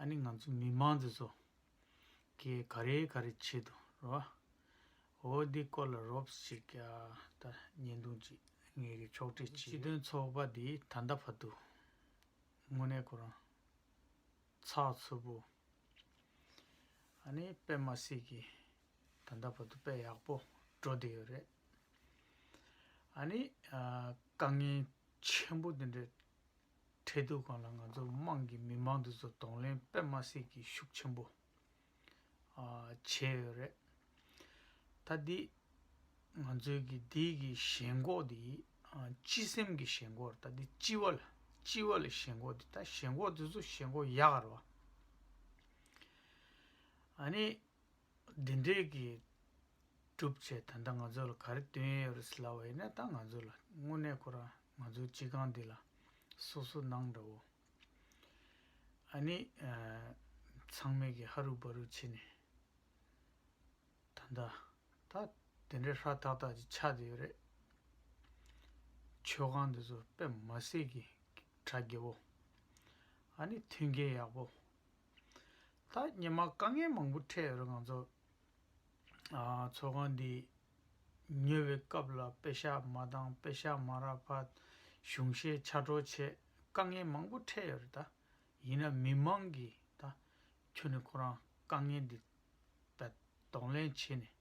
ཨཱ་ནི་ང་ཚོ་མི་དམངས་ཚོས་ཚོ་གས་ག་རེ་ག་རེ་བྱེད་དུ་རོ་ཨ། འོ་འདི་སྐོར་ལ་རོབས་ཤིག་ཀྱ་ད་ཉེན་རྡུང་ཅི་ངེས་ཀྱི་ཕྱོགས་བྲེལ་གྱིས། སྤྱི་དོན་ཚོགས་པ་འདི་ད་ལྟ་བར་དུ་དངོས་གནས་ཁོ་རང་ཚགས་ཚུད་པོ་ཨཱ་ནི་དཔེ་མ་སྲིད་ཀྱི་ད་ལྟ་བར་དུ་དཔེ་ཡག་པོ་འགྲོ་བསྡད་ཡོད་རེད་ཨཱ་ནི་དཀའ་ངལ་ཆེན་པོ་འདི་འདྲ་འཕྲལ་དུ་གང་ལ་ང་ཚོ་དམངས་ཀྱི་མི་མང་དུ་ཚོ་གདོང་ལེན་དཔེ་མ་སྲིད་ཀྱི་ཤུགས་ཆེན་པོ་བྱས་ཡོད་རེད། ད་འདི་ང་ཚོའི་གི་འདི་གི་ཞེན་ཁོག་འདི་སྤྱི་སེམས་ཀྱི་ཞེན་ཁོག་རེད་ད་འདི་སྤྱི་བ་ལ་སྤྱི་བ་ལ་ཞེན་ཁོག་འདི་ད་ཞེན་ཁོག་འདི་ཚོ་ཞེན་ཁོག་ཡག་རེད་བ། ཨ་ནི་འདི་འདྲའི་གི་སྒྲུབ་བྱེད་ད་ལྟ་ང་ཚོ་ལ་ག་རེ་སྟོན་ཡས་ཡོད་རེད་ཟེར་ལབ་བ་ཡིན་ན་ད་ང་ཚོ་ལ་དངོས་གནས་ཁོ་རང་ང་ཚོའི་སྤྱི་ཁང་འདི་ལ་སོ་སོ་གནང་འདྲ་བོ། ཨ་ནི་ཚང་མས་གི་ཧ་རུ་བ་རུ་བྱེད་ནས་ད་ལྟ་ད་དེ་འདྲའི་ཧྲ་ཐག་ཐག་ཅིག་ཆགས་འདི་ཡོད་རེད། མཆོད་ཁང་འདི་ཚོ་དཔེ་མ་སྲིད་གི་གྲ་རྒྱས་བོ། ཨ་ནི་མཐུན་རྐྱེན་ཡག་པོ་ད་ཉི་མ་དཀའ་ངལ་མང་པོ་འཕྲད་ཡོད་རེད་ང་ཚོ་ཚོགས་ཁང་འདི་ཉོ་བའི་སྐབས་ལ་དཔེ་ཞྭ་མ་དང་དཔེ་ཞྭ་མ་རག་པ་གཞུང་བཞེས་ཕྱར་གྲོ་བྱས་དཀའ་ངལ་མང་པོ་འཕྲད་ཡོད་རེད་ད་ཡིན་ན་མི་མང་གིས་ད་ཁྱོད་ནས་ཁོ་རང་དཀའ་ངལ་འདི་ད་གདོང་ལེན་བྱེད་ནས་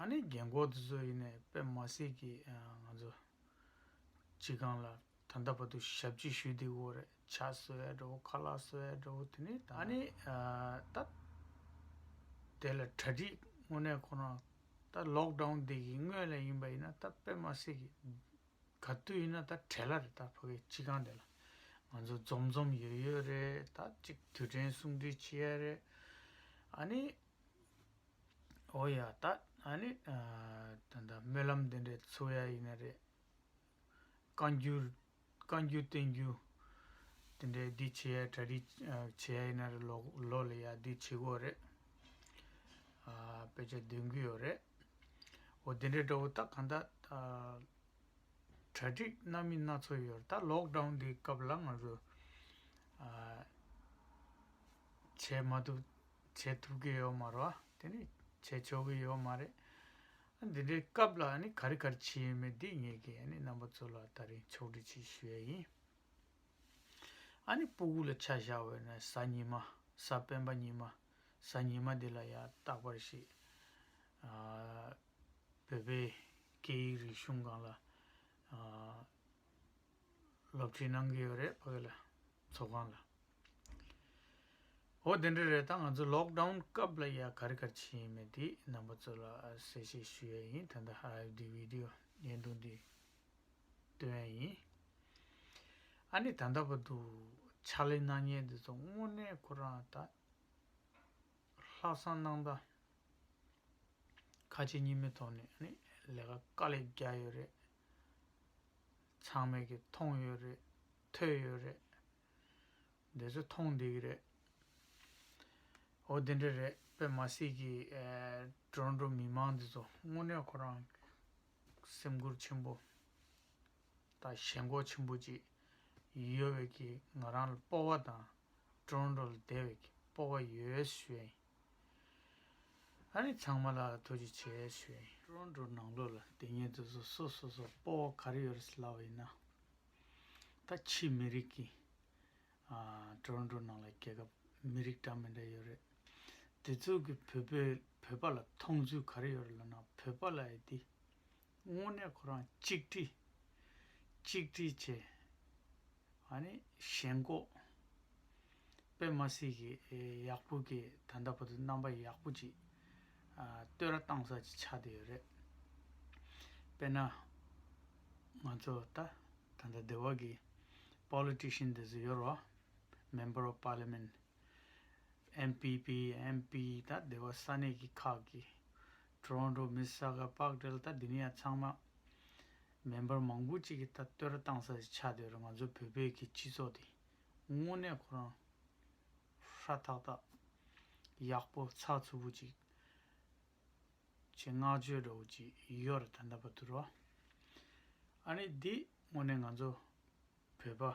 ཨ་ནེ་རྒན་འཁོགས་དེ་ཚོ་ཡིན་ནས་པད་མ་སྲིད་ཀྱིས་ང་ཚོ་སྤྱི་ཁང་ལ་ད་ལྟ་བར་དུ་ཞབས་ཕྱི་ཞུས་འདུག་འོ་རེད་ཕྱག་གསོལ་བའི་འདྲ་བོ་ཁ་ལག་གསོལ་བའི་འདྲ་བོ་དེ་ནི་ད་ཨ་ནེ་ད་དེ་ལ་གྲ་སྒྲིག་དངོས་གནས་ཁོ་རང་ད་ལོག་འདྲའོ་འདི་གི་སྔོན་ལ་ཡིན་པ་ཡིན་ན་ད་པད་མ་སྲིད་ཀྱི་ག་དུས་ཡིན་ན་ད་བྲེལ་ལ་རེད་ད་ཕ་གིའི་སྤྱི་ཁང་དེ་ལ་ང་ཚོ་འཛོམས་འཛོམས་ཡོད་ཡོད་རེད་ད་ཅིག་དུས་དྲན་གསུང་འཕྲིན་བྱེད་ཡ་རེད་ཨ་ནེ། ཨོ་ཡ་ད་ཨ་ནི་ད་ད་སྨོན་ལམ་འདི་འདྲའི་འཚོལ་བ་ཡིན་ན་རེད། བཀའ་འགྱུར་བཀའ་འགྱུར་བསྟན་འགྱུར་འདི་འདྲའི་འདི་བྱེད་ཡ་གྲ་སྒྲིག་བྱེད་ཡ་ཡིན་ན་རེད་ལོག་ལོག་ལ་ཡ་འདི་བྱེད་དགོས་རེད། དཔེ་ཆ་འདོན་གྱི་ཡོད་རེད། འོ་འདི་འདྲའི་འདྲ་བོ་ད་གང་ད་གྲ་སྒྲིག་སྣ་མི་སྣ་ཚོགས་ཡོད་རེད་ད་ལོག་འགྲོན་འདི་སྐབས་ལ་ང་ཚོ་བྱས་མ་ཐུབ་བྱེད་ཐུབ་ཀྱི་ཡོད་མ་རེད་དེ་ནི་བྱེད་ཆོག་གི་ཡོད་མ་རེད། འདི་འདྲའི་སྐབས་ལ་ནི་ག་རེ་ག་རེ་བྱེད་ཡོད་མེད་འདི་ངེད་ཀྱིས་ནི་རྣམ་པ་ཚོ་ལ་ད་རིང་ཕྱོགས་བསྒྲིགས་བྱེད་ཞུ་ཡ་ཡིན། ཨ་ནི་སྤུ་གུ་ལ་ཆ་བཞག་བས་ན་གཟའ་ཉི་མ་གཟའ་སྤེན་པ་ཉི་མ་གཟའ་ཉི་མ་འདི་ལ་ཡང་རྟག་པར་ཞིག་བོད་པའི་སྐད་ཡིག་རིག་གཞུང་གང་ལ་སློབ་ཁྲིད་གནང་གི་ཡོད་རེད་ཕ་གི་ལ་ཚོགས་ཁང་ལ། འོ་དེ་འདྲ་རེད་ད་ང་ཚོ་ལོག་ཏའུ་སྐབས་ལ་ཡ་ག་རི་ག་རི་བྱེད་ཡིན་མེད་དེ་རྣམ་པ་ཚོ་ལ་གསལ་བཤད་ཞུ་ཡ་ཡིན་ད་ལྟ་ཧ་ཨེ་བདེ་བི་དེ་ཡན་དུ་འདི་སྟོན་ཡ་ཡིན། ཨ་ནི་ད་ལྟ་བ་དུ་ཕྱག་ལས་གནང་མྱེད་འདི་ཚོ་དངོས་གནས་ཁོ་རང་ད་ལྷག་བསམ་གནང་ད་ཁ་ཆེ་གཉིས་མེད་ཐོག་ནས་ནི་ལས་ཀ་དཀའ་ལས་རྒྱག་ཡོད་རེད། ཚང་མས་ཀྱི་མཐོང་ཡོད་རེད་ཐོས་ཡོད་རེད། འདི་ཚོ་མཐོང་བསྡད་ཀྱི་རེད། འོ་དེ་འདྲ་རེད་པས་མ་སྲིད་ཀྱི་འགྲོ་འགྲོ་མི་མང་འདི་ཚོ་དངོས་གནས་ཁོ་རང་སེམས་ཁུར་ཆེན་པོ་དང་ཞེན་ཁོག་ཆེན་པོ་ཅིག་ཡོད་བས་ཀྱི་ང་རང་ལ་སྤོ་བ་དང་འགྲོ་འགྲོ་ལ་བསྡད་བས་ཀྱི་སྤོ་བ་ཡོད་ཞུས་བས་ཡིན། ཨ་རིག་ཚང་མ་ལ་ཐུགས་རྗེ་ཆེ་ཞུ་ཡིན། ཀྲོན་ཀྲོན་ནང་ལོག་ལ་དེ་ཉིད་དུ་སོ་སོ་སོ་སོ་སྤོ་བོ་ག་རེ་ཡོད་རེད་ལབ་བ་ཡིན་ན། ད་ཕྱིས་མི་རིགས་ཀྱི་ཀྲོན་ཀྲོན་ནང་ལ་རྒྱལ་ཁབ་མི་རིགས་འདྲ་མི་འདྲ་ཡོད་རེད། དེ་ཚོ་གི་བོད་པའི་བོད་པ་ལ་མཐོང་ཚུལ་ག་རེ་ཡོད་རེད་ལབ་ན་བོད་པ་ལ་ཡི་དེ་དངོས་གནས་ཁོ་རང་གཅིག་བསྒྲིལ། གཅིག་བསྒྲིལ་བྱས། ཨ་ནི་གཞན་མགོ། པད་མ་སྲིད་ཀྱི་ཡག་པོ་གི་ད་ལྟ་བར་དུ་རྣམ་པ་ཡག་པོ་ཅིག་བསྟོད་ར་གཏང་ས་ཅིག་ཆགས་བསྡད་ཡོད་རེད། དཔེར་ན། ང་ཚོ་ད་ད་ལྟ་སྡེ་བ་གི Politician དེ་ཚོ་ཡོད་རོ། Member of Parliament། MPP MP ད་སྡེ་བ་ས་གནས་ཀྱི་ཁག་གི། Toronto Mississauga Park དེ་ལ་ད་དེ་མི་ཡང་ཚང་མ་མེན་པར་མང་པོ་གཅིག་གིས་ད་བསྟོད་ར་བཏང་ས་ཞིག་ཆགས་འདོད་རེད་ང་ཚོ་བོད་པའི་གི་སྤྱི་ཚོགས་དེ་དངོས་གནས་ཁོ་རང་ཧྲ་ཐག་ཐག་ཡག་པོ་ཚགས་ཚུད་པོ་གཅིག་བྱེད་བསྔགས་བརྗོད་འདྲ་བོ་གཅིག་ཡོད་རེད་ད་ད་བ་དུ་རོ་ཨ་ནི་འདི་དངོས་གནས་ང་ཚོ་བོད་པ།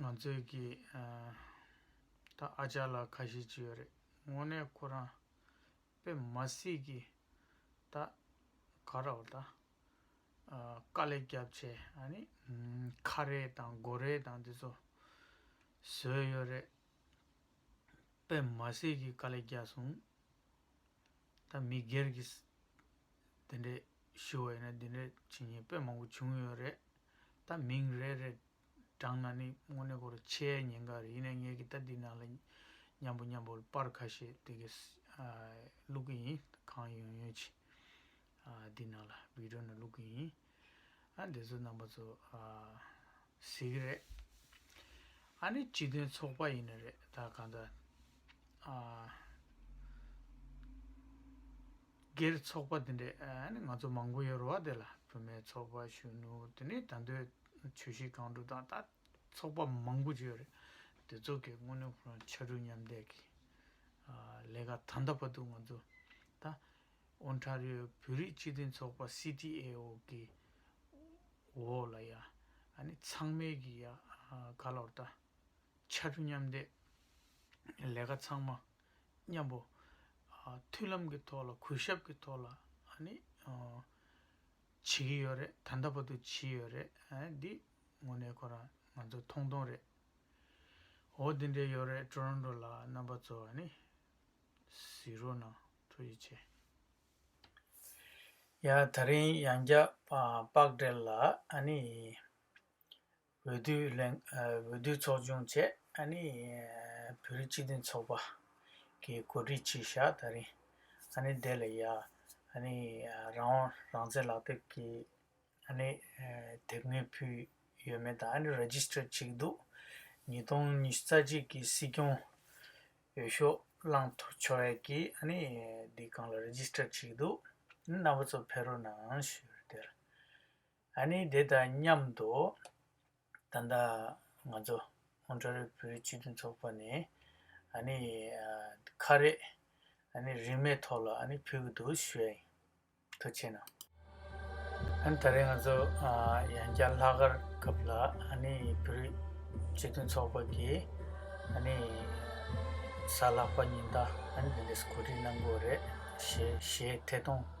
ང་ཚོས་ཀྱི། ད་ཨ་ཅག་ལ་ཁ་ཞེ་གཅིག་ཡོད་རེད་དངོས་གནས་ཁོ་རང། དཔེ་མ་སྲིད་ཀྱི། ད། ག་ར་བ་ད། དཀའ་ལས་རྒྱབ་ཆེ་ཨ་ནི། ཁ་རས་དང་མགོ་རས་དང་དེ་ཚོ། བཟོས་ཡོད་རེད། དཔེ་མ་སྲིད་ཀྱི་དཀའ་ལས་རྒྱག་སོང། ད་མི་སྒེར་གྱི། དེ་འདྲས་ཞུ་བ་ཡིན་ན་དེ་འདྲས་བྱེད་ཉེས་དཔེ་མང་པོ་བྱུང་ཡོད་རེད། ད་མིང་རེ་རེ་བགྲང་ན་ནི་དངོས་གནས་གོར་ཆའི་ཉེན་ཁ་རེད་ཡིན་ནའི་ངས་གི་ད་འདི་ནང་ལ་མཉམ་པོ་མཉམ་པོར་པར་ཁ་ཤས་དེ་གི་བླུག་གི་ཡིན་གང་ཡོང་ཡོང་ཅི་འདི་ནང་ལ་བི་དྲོ་ནས་བླུག་གི་ཡིན་ཨ་འདི་ཚོ་རྣམ་པ་ཚོ་ཟེར་གི་རེད་ཨ་ནི་སྤྱི་དོན་ཚོགས་པ་ཡིན་ནི་རེད་ད་གང་ད། སྒེར་ཚོགས་པ་དེ་འདྲས་ནི་ང་ཚོ་མང་པོ་ཡོད་རུང་བ་དེ་ལ་བུད་མེད་ཚོགས་པ་གཞོན་ནུ་དེ་ནི་ད་འདོད་ཆོས་གཞི་གང་སྒྲུབ་དང་ད་ཚོགས་པ་མང་པོ་བརྗོད་རེད་དེ་ཚོ་གི་དངོས་གནས་ཁོ་རང་ཕྱར་གྲུ་མཉམ་འདེགས་ཀྱི་ལས་ཀ་ད་འདའ་བ་འདུག་ང་ཚོ་ད་ཨོན་ཁྲ་རིའོ་བོད་རིགས་སྤྱི་མཐུན་ཚོགས་པ་སི་ཏི་ཨེ་ཨོ་གི་འོག་ལ་ཡ་ནི་ཚང་མའི་གི་ཡ་ག་ལོར་ད། ཕྱར་གྲུ་མཉམ་འདེགས་ལས་ཀ་ཚང་མ་མཉམ་པོ། མཐུན་ལམ་གྱི་ཐོག་ལ་གུས་ཞབས་ཀྱི་ཐོག་ལ་བྱེད་ཀྱི་ཡོད་རེད་ད་ལྟ་བར་དུ་བྱེད་ཡོད་རེད་འདི་དངོས་གནས་ཁོ་རང་ང་ཚོ་མཐོང་མཐོང་རེད། འོ་འདི་འདྲས་ཡོད་རེད་ཀྲོ་རོན་ཀྲོ་ལ་རྣམ་པ་ཚོ་བཟི་རོགས་གནང་ཐུགས་རྗེ་ཆེ། ཡ་ད་རིང་ཡང་བསྐྱར་དཔག་བསྒྲལ་ལ་ཨ་ནི། འོས་བསྡུའི་ཚོགས་ཆུང་བཅས་བོད་རིགས་སྤྱི་མཐུན་ཚོགས་པ་གི་གོ་སྒྲིག་ཆེད་ཞྭ་ད་རིང་བདེ་ལ་ཡ་རང་དབང་རང་བཙན་ལག་དེབ་ཀྱི་དེབ་ངོས་ཕུལ་ཡོད་མེད་དང Registered བྱེད་ཀྱི་འདུག་ཉིས་སྟོང་ཉི་རྩ་གཅིག་གི་སྲིད་སྐྱོང་འོས་ཤོག་བླངས་ཆོ་བས་ཀྱི་འདི་གང་ལ Registered བྱེད་ཀྱི་འདུག་རྣམ་པ་ཚོ་ཕེ་རུ་ནང་ཞུས་དེར། ཨཱ་ནི་དེ་དང་མཉམ་དུ། ད་ལྟ་ང་ཚོ་ཧོང་ཁྲ་རིལ་བོའི་སྤྱི་མཐུན་ཚོགས་པ་ནས་ཨཱ་ནི་ཁ་རས་ཨཱ་ནི་རིན་མེད་ཐོག་ལ་ཨཱ་ནི་ཕུལ་གྱི་འདུག་ཞོའི་ཐུ་ཆེ་ན། ཨཱ་ནི་ད་རེས་ང་ཚོ་ཡང་བསྐྱར་ལྷག་དཀར་སྐབས་ལ་ཨཱ་ནི་བོད་རིགས་སྤྱི་མཐུན་ཚོགས་པ་གིས་ཨཱ་ནི་གཟའ་ལྷག་པ་ཉིན་ད་ཨཱ་ནི་དེ་འདྲས་སུ་གོ་སྒྲིག་གནང་དགོས་རེད་ཞེས་ཐད་གཏོང།